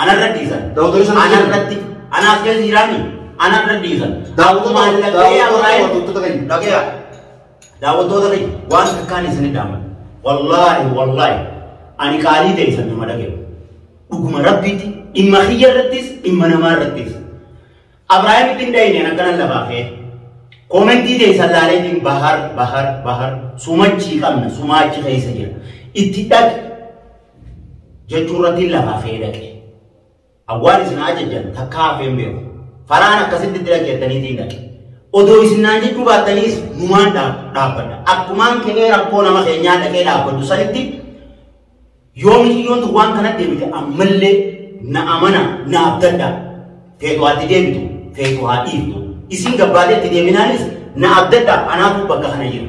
Anarra dhiisan. Daawwattoonni sana Ana jiran. irratti anaaf keessa jiraanii ana irra dhiisan. Daawwattoota- Maallaqee daawwattoota- Abiraayim- daawwattoota keenya. Dhagayaa. Daawwattoota keenya waan takkaan isin dhaaman. Wallaahi wallaahi ani qaalii ta'e isin nama dhagayu. Dhuguma rabbiitti dhimma kiyya irrattis dhimma namaa irrattis. Abiraayimitti hin dhayine an akkanan lafaa ka'e. Koomentii ta'e isin laaleetiin bahar bahar bahar sumachii qabna sumaachi keessa jira. Itti dhaqi jechuu irrattiin lafa hafee dhaqe. Awwaan isin haa jejjan takkaa hafeen beeku. Faraan akkasitti itti dhaggeettaniitiin dhaqe. Odoo isin naan jechuu baattaniis numaan dhaabbadha. Akkumaan ka'ee rakkoo nama keenyaa dhaqee dhaabbadhu sanitti yoo miciyyoon tun waan kanatti deebite ammallee na amana na abdadha. Feetu haa itti deebitu feetu haa dhiiftu. Isin gabbaateetti deebinaanis na abdadha anaatu bakka kana jiru.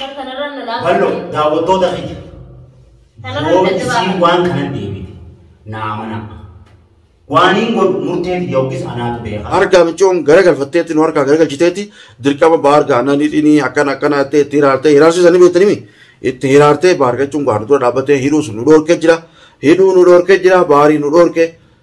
Bar kanarra na laafaa. Ballo daawwattoota kiyya. Kanarra Yoo dadhabaa isiin kana. waan kana deebite naa amanaa. Waaniin godhu murtee tiyya yookiis anaatu beeka. Harkaa michoon garagalfatteetti nu harkaa garagalchiteetti dirqama baar gaanaa ni dhini akkana akkana jettee itti hiraartee hiraarsuu sanii beektanimi itti hiraartee baar jechuun gaanu dura dhaabbatee hidhuu sun nu dhoorkee jira hidhuu nu dhoorkee jira baarii nu dhoorkee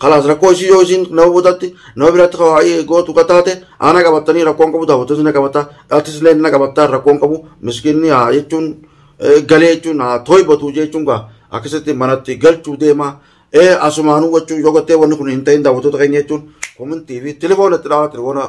Kalaas rakkoo isii yoo isiin nama butatti nama biratti kawaa'ii gootu kataate ana qabattanii rakkoon qabu daawwattoota na qabatta dhaatis illee na qabatta rakkoon qabu miskiinni haa jechuun galee jechuun haa toibatu jechuun gaa akkasitti manatti galchuu deema asumaanuu wachuu yoo gattee wanni kun hin ta'in daawwattoota keenya jechuun komintii fi telefoona itti dhaawaa telefoona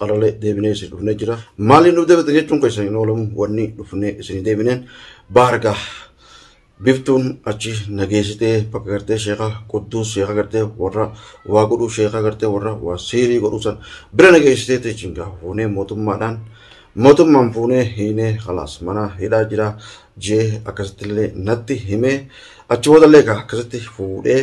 Alalee deebinee isin dhufnee jira. Maaliin nu deebite jechuun keessan hin oolamu wanni dhufnee isin deebineen baargaa biftuun achi nageessitee bakka gartee sheekaa qudduus sheekaa gartee warra waa godhuu sheekaa gartee warra waa siirii godhuu san bira nageessitee teechiin gaa fuunee mootummaadhaan mootummaan fuunee hiinee kalaas mana hidhaa jira jee akkasittillee natti himee achi boodallee gaa akkasitti fuudhee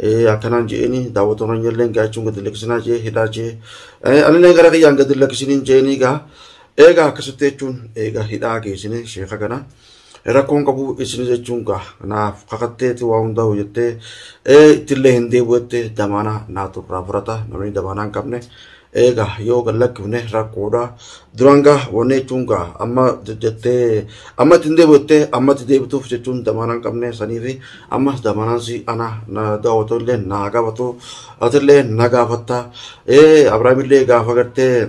Eh, akkanaan je'eeni daawwatoon hanyalleen gaachuun gadi lakkisinaa jee hidhaa jee Eh, anilleen gara kiyyaan gadi lakkisiniin je'eenii gaa eegaa akkasitti jechuun eegaa hidhaa geessine sheeka kana rakkoon qabu isin jechuun gaa naaf kakatteeti waa hundaa hojjettee eh, ittillee hin deebi'u jettee damaanaa naatu irraa fudhata namni damaanaa hin qabne eega yoo gad lakkifne rakkoodha. Duraan gaa wanni jechuun gaa amma jettee amma itti hin deebi'attee amma itti deebituuf jechuun damaanaa hin qabne sanii fi ammas damaanaan si ana na daawwatu illee na gaafatu atillee na gaafatta. Ee Abiraamillee gaafa gartee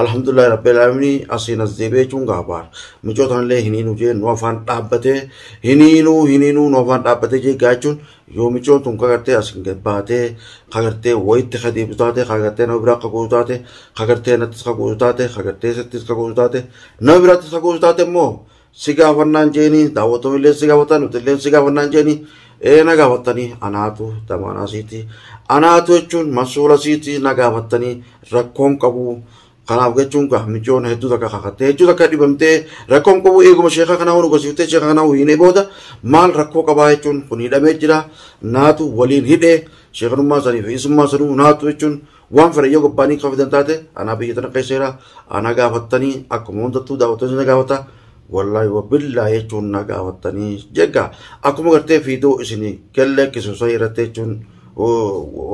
Alhamdulillah Rabbil Alaminii asiin as deebi'ee jechuun gaabaar. Mucoo tanallee hiniinuu jee nu afaan dhaabbatee hiniinuu hiniinuu nu afaan dhaabbatee jee gaachuun yoo mucoon tun kagartee asiin gad baatee kagartee wayitti ka deebitu taate kagartee nama biraa akka gootu taate kagartee nattis ka gootu taate kagartee isattis ka gootu taate nama biraattis ka gootu taate immoo si gaafannaan jeeni daawwattoonni illee si gaafatan nuti illee si gaafannaan jeeni ee na gaafattanii anaatu damaanaa siiti anaatu jechuun masuula siiti na gaafattanii rakkoon qabu kanaaf jechuun gaa mijoon hedduu takka kakattee hedduu takka dhibamtee rakkoon qabu eeguma sheekaa kanaa hunu gosiiftee sheekaa kanaa hiinee booda maal rakkoo qabaa jechuun kun hidhamee jira naatu waliin hidhee sheekanummaa sanii fi isummaa sanuu naatu jechuun Waan fedhan yoo gabbaanii kan fidan taate anaa biyya tana keessa jira anaa gaafattanii akkuma hundattuu daawwattoonni na gaafata wallaahi wabillaa jechuun na gaafattanii jegga akkuma gartee fiidoo isin gallee kisu sahii irratti jechuun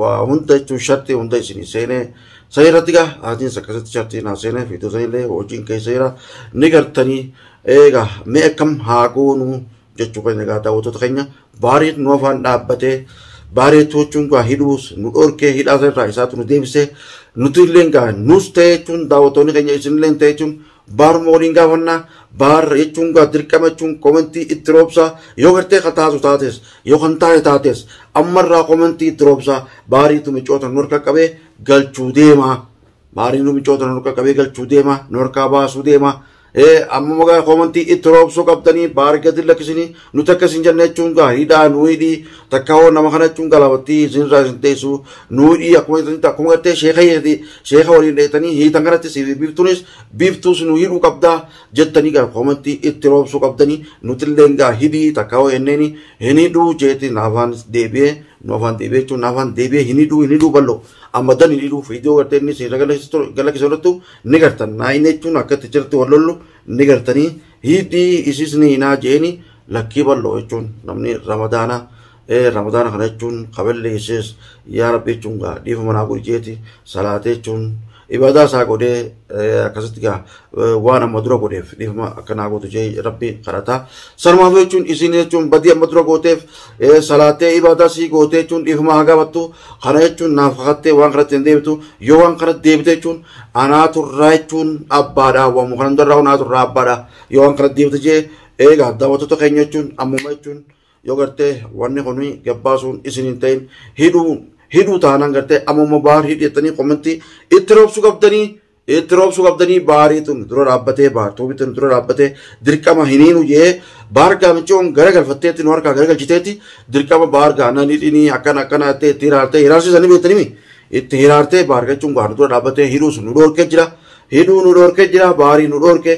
waa hunda jechuun shartii hunda isin seenee sahii irratti gaa aatiins akkasitti shartii naa seenee fiidoo sanillee hojiin keessa jira ni gartanii eega mee akkam haa goonuu jechuu keenya egaa daawwattoota keenya baariin nu afaan dhaabbatee baaree toochuun gaa hidhuus nu dhorkee hidhaa irraa isaatu nu deebisee nuti illee gaa nus ta'e jechuun daawwattoonni keenya isin illee ta'e jechuun baaruma waliin gaafannaa baar jechuun gaa dirqama jechuun komentii itti roobsaa yoo gartee kan taatu taates yoo kan taate taates ammarraa komentii itti roobsaa baariitu micoota nu harka qabee galchuu deemaa. Maariin nu michoota nu qaqqabee galchuu deema nu harkaa baasuu deema amma magaa koomantii itti roobsuu qabdanii baar gadi lakkisinii nuti akka isin jenne jechuun gaariidhaa nu hidhii takka hoo nama kana jechuun galaabattii isin irraa isin teessu nu hidhii akkuma jetanitti akkuma gartee sheeka hiidhati sheeka waliin dheetanii hiitan kanatti siif biiftuunis biiftuus nu hidhuu qabdaa jettanii gara koomantii itti roobsuu qabdanii nuti illee gaa hidhii takka hoo jenneeni hin hidhuu jeeti naafaan deebi'ee nu afaan deebi'ee jechuun naafaan deebi'ee hin hidhuu hin hidhuu bal'oo amma dani dhiru fiidiyoo gartee inni siirra galakkisa irrattu ni gartan naayina jechuun akka itti jirti wal lollu ni gartanii hiidhii isiis ni hinaa jeeni lakkii bal'oo jechuun namni ramadaana ramadaana kana jechuun kaballi isiis yaa rabbi jechuun gaa dhiifa manaa gurjeeti salaatee jechuun ibaadaa isaa godhee akkasitti gaa waan amma dura godheef dhiifama akka naa gootu jee rabbi kadhata. Sanumaaf jechuun isin jechuun badii amma dura gooteef salaatee ibaadaa sii gootee jechuun dhiifama haa gaafattu kana jechuun naaf kakattee waan kanatti hin deebitu yoo waan kana deebite jechuun anaa turraa jechuun abbaadha waan kana hundarraa anaa turraa abbaadha yoo waan kana deebite jee eegaa daawwattoota keenya jechuun ammuma jechuun yoo gartee wanni kun gabbaasuun isin hin ta'in hidhuu hidhuu taanaan gartee ammuma baar hidhettanii kommentii itti roobsuu qabdanii Itti roobsuu qabdanii baarii tun dura dhaabbatee baar tuubi tun dura dhaabbatee dirqama hiniinu jee baar gaamichoon gara galfatteetti nu harkaa gara galchiteetti dirqama baar gaana nidhinii akkana akkana jettee itti hiraartee hiraarsiisanii beektanii mi itti hiraartee baar gachuun gaana dura dhaabbatee hidhuus nu dhoorkee jira hidhuu nu dhoorkee jira baarii nu dhoorkee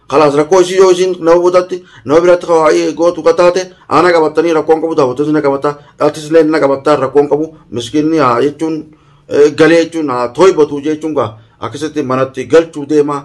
Kalaas rakkoo isii yoo isiin nama butatti nama biratti kawaa'ii gootu kataate ana qabattanii rakkoon qabu daawwattoota na qabatta dhaltis illee na qabatta rakkoon qabu miskiinni haa jechuun galee jechuun haa toibatu jechuun gaa akkasitti manatti galchuu deema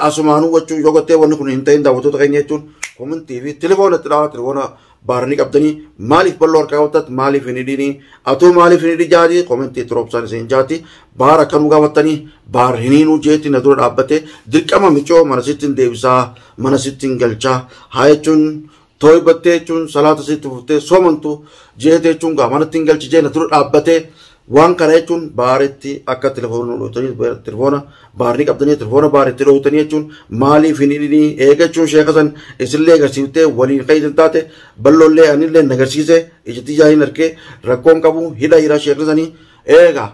asumaan hubachuu yoo gottee wanni kun hin ta'in daawwattoota keenya jechuun komintii fi telefoona itti dhawa telefoona Baara ni qabdanii maaliif bal'oo harkaa hawwatat maaliif hin hidhiinii atoo maaliif hin hidhi jaati komentii itti roobsaan isin jaati baara akka nu gaafattanii baar hin hiinuu jeetti na dura dhaabbate dirqama micoo mana sitti hin deebisaa mana sitti hin galchaa haa jechuun tooybattee jechuun salaata sitti fuftee soomantu jeete jechuun gaa manatti hin galchi jee na dura dhaabbatee Waan kana jechuun baaritti akka telefoona nu dhootanii telefoona baarri qabdanii telefoona baaritti dhootanii jechuun maaliif hin hidhinii eegachuun sheeka san isinillee agarsiiftee waliin kan isin taate balloollee anillee na agarsiise ijatti ijaa hin argee rakkoon qabu hidha jira sheekni sanii eega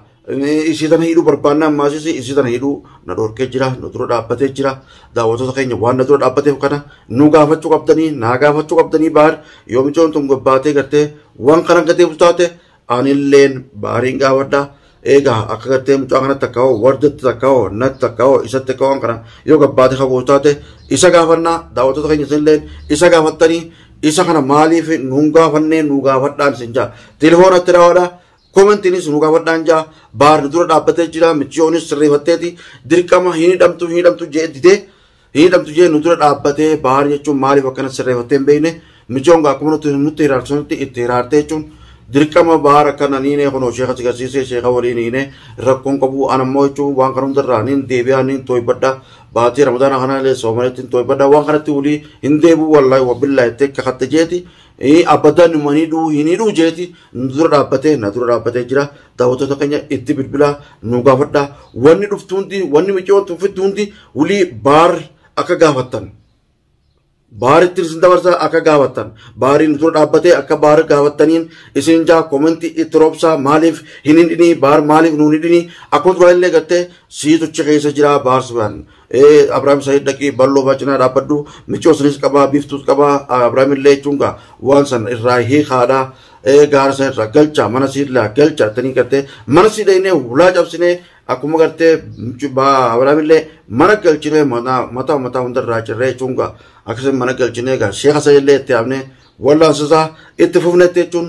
isii tana hidhuu barbaannaa ammaasisi isii tana hidhuu na dhorkee jira nu dura dhaabbatee jira daawwattoota keenya waan na dura dhaabbateef kana nu gaafachuu qabdanii naa gaafachuu qabdanii baar yoo micoon tun gobbaatee gartee waan kana gateef taate anilleen baariin gaafadha eegaa akka gartee mucaa kanatti akka hoo wardatti takka hoo natti takka hoo isatti akka waan kana yoo gabbaate kabuus taate isa gaafannaa daawwattoota keenya isinilleen isa gaafattanii isa kana maaliif nuun gaafannee nuu gaafadhaan isin jaa telefoonatti daawwadha koomentiinis nuu gaafadhaan jaa baarri dura dhaabbatee jira michiyoonis sirreeffatteeti dirqama hin hidhamtu hin hidhamtu jee didee Hiidhamtu jee nu dura dhaabbatee Bahaar jechuun maaliif akkana sirreeffattee hin beekne michoon gaa akkuma nutti nutti hiraarte sunitti itti hiraarte jechuun dirqama Bahaar akkana niinee kunoo sheeka si garsiisee sheeka waliin hiinee rakkoon qabu an ammoo jechuun waan kana hundarraa niin deebi'aa niin tooybadha baatii ramadaana kana illee soomanetti hin tooybadha waan kanatti wulii hin deebi'u wallaahi wabbillaahi itti akka katte jeeti Eh, Abadan man hidhuu hin hidhuu jeeti nu dura dhaabbatee na dura dhaabbatee jira daawwattoota keenya itti bilbilaa nu gaafadha wanni dhuftu hundi wanni miciyoo tuffittu hundi wulii baarri akka gaafattan baaritti isin dabarsa akka gaafattan baarii nu dura dhaabbatee akka baarri gaafattaniin isin jaa komentii itti roobsaa maaliif hin hidhinii baar maaliif nu hin hidhinii akkuma duraa illee gattee sii tuchi keessa jira baarsi waan Ee Abrahaam Said dhaqii balloo baa cinaa dhaabbadhu michoo sinis qabaa biiftuus qabaa Abrahaam illee jechuun gaa waan san irraa hiikaadha ee gaara san irraa galcha mana siidlaa galcha tanii gartee mana siidha innee hulaa cabsinee akkuma gartee Abrahaam illee mana galchinee mataa mataa hundarraa cirree jechuun gaa akkasuma mana galchinee gaa sheeka Said illee itti yaamnee wallaansisaa itti fufnetti jechuun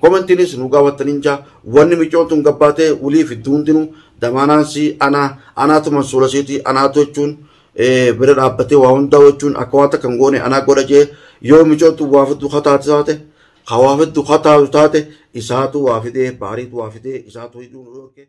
Komentiinis nu gaawattan hin jaa wanni micoon tun gabbaatee wulii fiddu hundinuu damaanaan si anaa anaatu mansuura siiti anaatu jechuun bira dhaabbatee waa hundaa jechuun akka waan takka hin goone anaa godha jee yoo micoon tun waa fiddu kataate taate ka waa fiddu kataatu taate isaatu waa fidee baariitu waa fidee isaatu hidhuu nu dhorke.